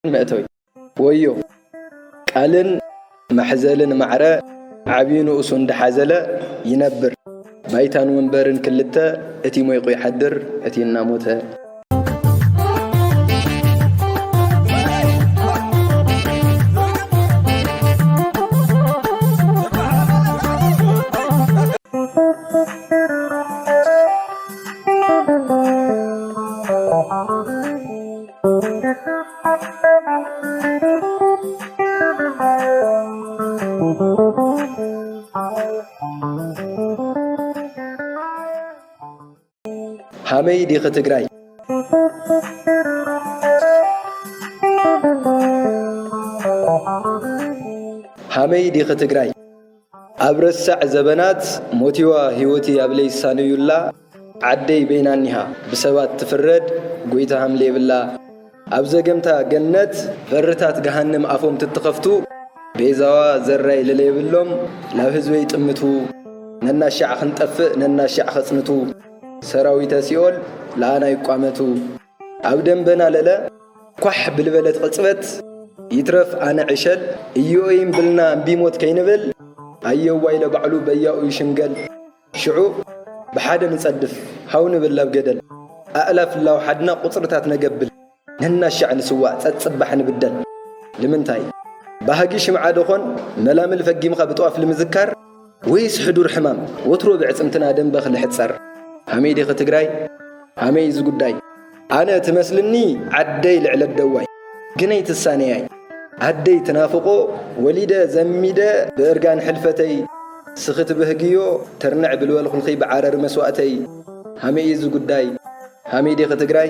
መእተዊ ወዮ ቃልን መሕዘልን ማዕረ ዓብዩ ንኡሱ እንዳሓዘለ ይነብር ባይታን ወንበርን ክልተ እቲ ሞይቑ ይሓድር እቲ እናሞተ ሃመይ ዲኺ ትግራይ? ሃመይ ዲኺ ትግራይ? ኣብ ረሳዕ ዘበናት ሞቲዋ ህይወቲ ኣብ ለይሳነዩላ ዓደይ በይና እኒሃ ብሰባት ትፍረድ ጎይታ ሃምለ የብላ ኣብ ዘገምታ ገነት በርታት ገሃንም ኣፎም ትትኸፍቱ ቤዛዋ ዘራይ ለለየብሎም ላብ ህዝበይ ጥምቱ ነናሻዕ ክንጠፍእ ነናሻዕ ኸጽንቱ ሰራዊተ ሲኦል ለኣና ይቋመቱ። ኣብ ደንበና ለለ ኳሕ ብልበለት ቕጽበት ይትረፍ ኣነ ዕሸል እዮኢም ብልና እምቢ ሞት ከይንብል ኣየዋይ ለባዕሉ በያኡ ይሽምገል ሽዑ ብሓደ ንጸድፍ ሃው ንብል ላብ ገደል ኣእላፍ እላው ሓድና ቁጽርታት ነገብል ነናሻዕ ንስዋእ ጸጽባሕ ንብደል ልምንታይ ባህጊ ሽምዓ ደኾን መላምል ፈጊምኻ ብጥዋፍ ልምዝካር ወይስ ሕዱር ሕማም ወትሩ ብዕጽምትና ደምበ ክልሕጸር። ሃመይ ዲኺ ትግራይ ሃመይ እዚ ጉዳይ ኣነ ትመስልኒ ዓደይ ልዕሊ ኣደዋይ ግነይ ትሳነያይ ኣደይ ትናፍቆ ወሊደ ዘሚደ ብእርጋን ሕልፈተይ ስኺ ትብህግዮ ትርንዕ ብልበልኹልኺ ብዓረር መስዋእተይ ሃመይ እዚ ጉዳይ ሃመይ ዲኺ ትግራይ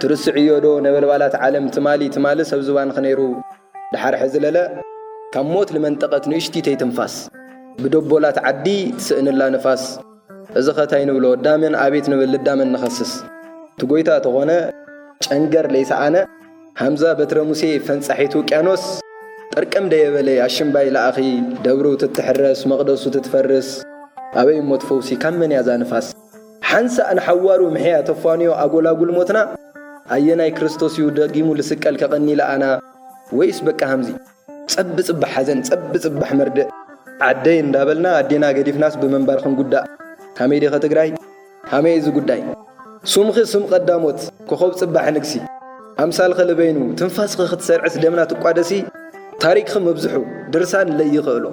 ትርስዕዮ ዶ ነበልባላት ዓለም ትማሊ ትማሊ ሰብ ዝባንኺ ነይሩ ድሓር ሕዚ ለለ ካብ ሞት ልመንጠቀት ንእሽቲተይ ትንፋስ ብደቦላት ዓዲ ትስእንላ ንፋስ እዚኸ ታይ ንብሎ እዳመን ኣቤት ንብል ልዳመን ንኸስስ እቲ ጎይታ ተኾነ ጨንገር ለይሰኣነ ሃምዛ በትረ ሙሴ ፈንጻሒት ውቅያኖስ ጥርቅም ደየበለይ ኣሽምባይ ለኣኺ ደብሩ ትትሕረስ መቅደሱ ትትፈርስ ኣበይ እሞ ትፈውሲ ካብ መን እያ እዛ ንፋስ ሓንሳእ ንሓዋሩ ምሕያት ኣፋንዮ ኣጎላጉል ሞትና ኣየናይ ክርስቶስ እዩ ደጊሙ ልስቀል ከቀኒ ልኣና ወይስ በቃ ሃምዚ ጸብ ጽባሕ ሓዘን ጸብ ጽባሕ መርድእ ዓደይ እንዳበልና ኣዴና ገዲፍናስ ብምንባር ክንጉዳእ ሃመይ ዲኺ ትግራይ ሃመይ እዚ ጉዳይ ሱምኺ ስም ቀዳሞት ኮኾብ ጽባሕ ንግሲ ኣምሳልኺ ልበይኑ ትንፋስኺ ክትሰርዕስ ደምና ትቋደሲ ታሪክኺ ምብዝሑ ድርሳን ለይኽእሎ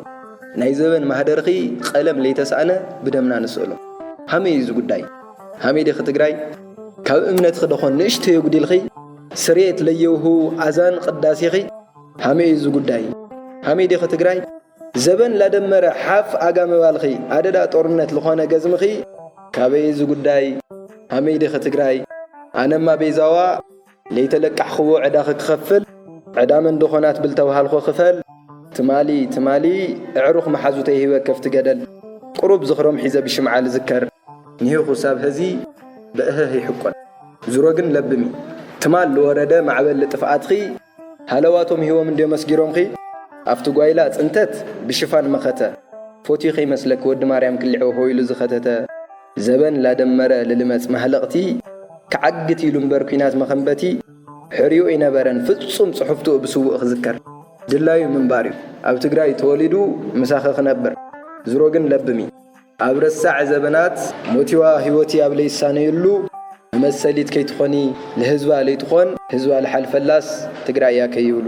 ናይ ዘበን ማህደርኺ ቐለም ለይተሳእነ ብደምና ንስእሎ። ሃመይ እዩ እዚ ጉዳይ? ሃመይ ዲኺ ትግራይ? ካብ እምነትኺ ደኾን ንእሽተይ ኣጉዲልኺ? ስርየት ለየውህቡ ኣዛን ቕዳሴኺ? ሃመይ እዩ እዚ ጉዳይ? ሃመይ ዲኺ ትግራይ? ዘበን ላደመረ ሓፍ ኣጋ ምባልኺ ኣደዳ ጦርነት ልኾነ ገዝምኺ? ካበይ እዚ ጉዳይ? ሃመይ ዲኺ ትግራይ? ኣነማ በይዛዋ! ለይተለቃሕኽዎ ዕዳኺ ክኸፍል ዕዳ መንደኾናት ብልተውሃልኾ ክፈል ትማሊ ትማሊ እዕሩኽ መሓዙተይ ሂበ ከፍቲ ገደል ቁሩብ ዝኽሮም ሒዘ ብሽምዓ ልዝከር ኒህ ኹሳብ ሀዚ ብእህህ ይሕቆን ዙሮ ግን ለብሚ ትማል ልወረደ ማዕበል ልጥፍኣትኺ ሃለዋቶም ሂቦም እንድዮም ኣስጊሮምኺ ኣፍቲ ጓይላ ፅንተት ብሽፋን መኸተ ፎትዩ ከይመስለኪ ወዲ ማርያም ክሊዕውሕው ኢሉ ዝኸተተ ዘበን ላደመረ ልልመጽ ማህለቕቲ ክዓግት ኢሉ እምበር ኩናት መኸንበቲ ሕርዩ እይነበረን ፍጹም ጽሑፍቱ እብ ስውእ ክዝከር። ድላዩ ምንባር እዩ ኣብ ትግራይ ተወሊዱ ምሳኺ ክነብር ዝሮ ግን ለብሚ። ኣብ ረሳዕ ዘበናት ሞቲዋ ህይወቲ ኣብ ለይሳነዩሉ መመሰሊት ከይትኾኒ ልህዝባ ለይትኾን ህዝባ ልሓልፈላስ ትግራይ እያ ከይብሉ።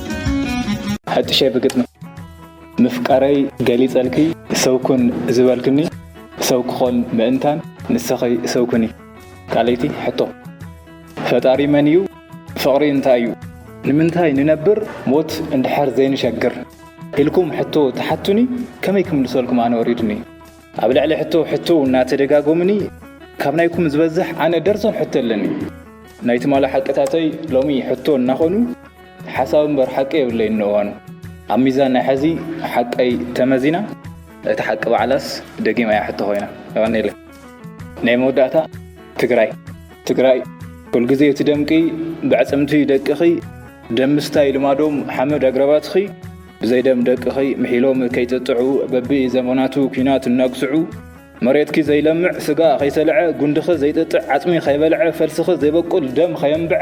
ሐጥሸ ብግጥሚ ምፍቃረይ ገሊጸልኪ ሰው ኩን ዝበልክኒ ሰው ክኾን ምእንታን ንሰኺ ሰው ኩኒ። ካልኣይቲ ሕቶ ፈጣሪ መን እዩ ፍቕሪ እንታይ እዩ ንምንታይ ንነብር ሞት እንድሕር ዘይንሸግር ኢልኩም ሕቶ ትሓቱኒ ከመይ ክምልሰልኩም ኣነ ወሪዱኒ ኣብ ልዕሊ ሕቶ ሕቶ እናተደጋጎምኒ ካብ ናይኩም ዝበዝሕ ኣነ ደርዞን ሕቶ ኣለኒ ናይ ትማሊ ሓቅታተይ ሎሚ ሕቶ እናኾኑ ሓሳዊ እምበር ሓቂ የብለይን ንእዋኑ። ኣብ ሚዛን ናይ ሐዚ ሓቀይ ተመዚና እታ ሓቂ ባዕላስ ደጊም እያ ሕቶ ኮይና። የቀንየለይ። ናይ መወዳእታ ትግራይ ትግራይ ኩልግዜ ትደምቂ ብዕፅምቲ ደቅኺ ደም ምስታይ ልማዶም ሓመድ ኣግራባትኺ ብዘይ ደም ደቅኺ ምሒሎም ከይጥጥዑ በቢ ዘመናቱ ኩናት እናግስዑ መሬትኪ ዘይለምዕ ስጋ ከይሰልዐ ጉንድኺ ዘይጥጥዕ ዓፅሚ ከይበልዐ ፈልስኺ ዘይበቁል ደም ከየንብዐ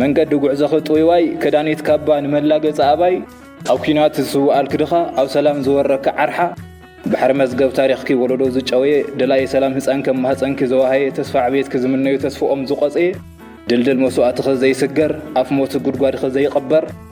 መንገዲ ጉዕዞኺ ጥውይዋይ ከዳኒት ካባ ንመላገጺ ኣባይ ኣብ ኲናት ዝስውኣልኪ ድኻ ኣብ ሰላም ዝወረኪ ዓርሓ ባሕሪ መዝገብ ታሪኽኪ ወለዶ ዝጨወየ ደላዪ ሰላም ህጻን ከም ማህጸንኪ ዘዋሃየ ተስፋ ዕብየትኪ ዝምነዩ ተስፍኦም ዝቖጽየ ድልድል መስዋእትኺ ዘይስገር ኣፍ ሞት ጉድጓድኺ ዘይቕበር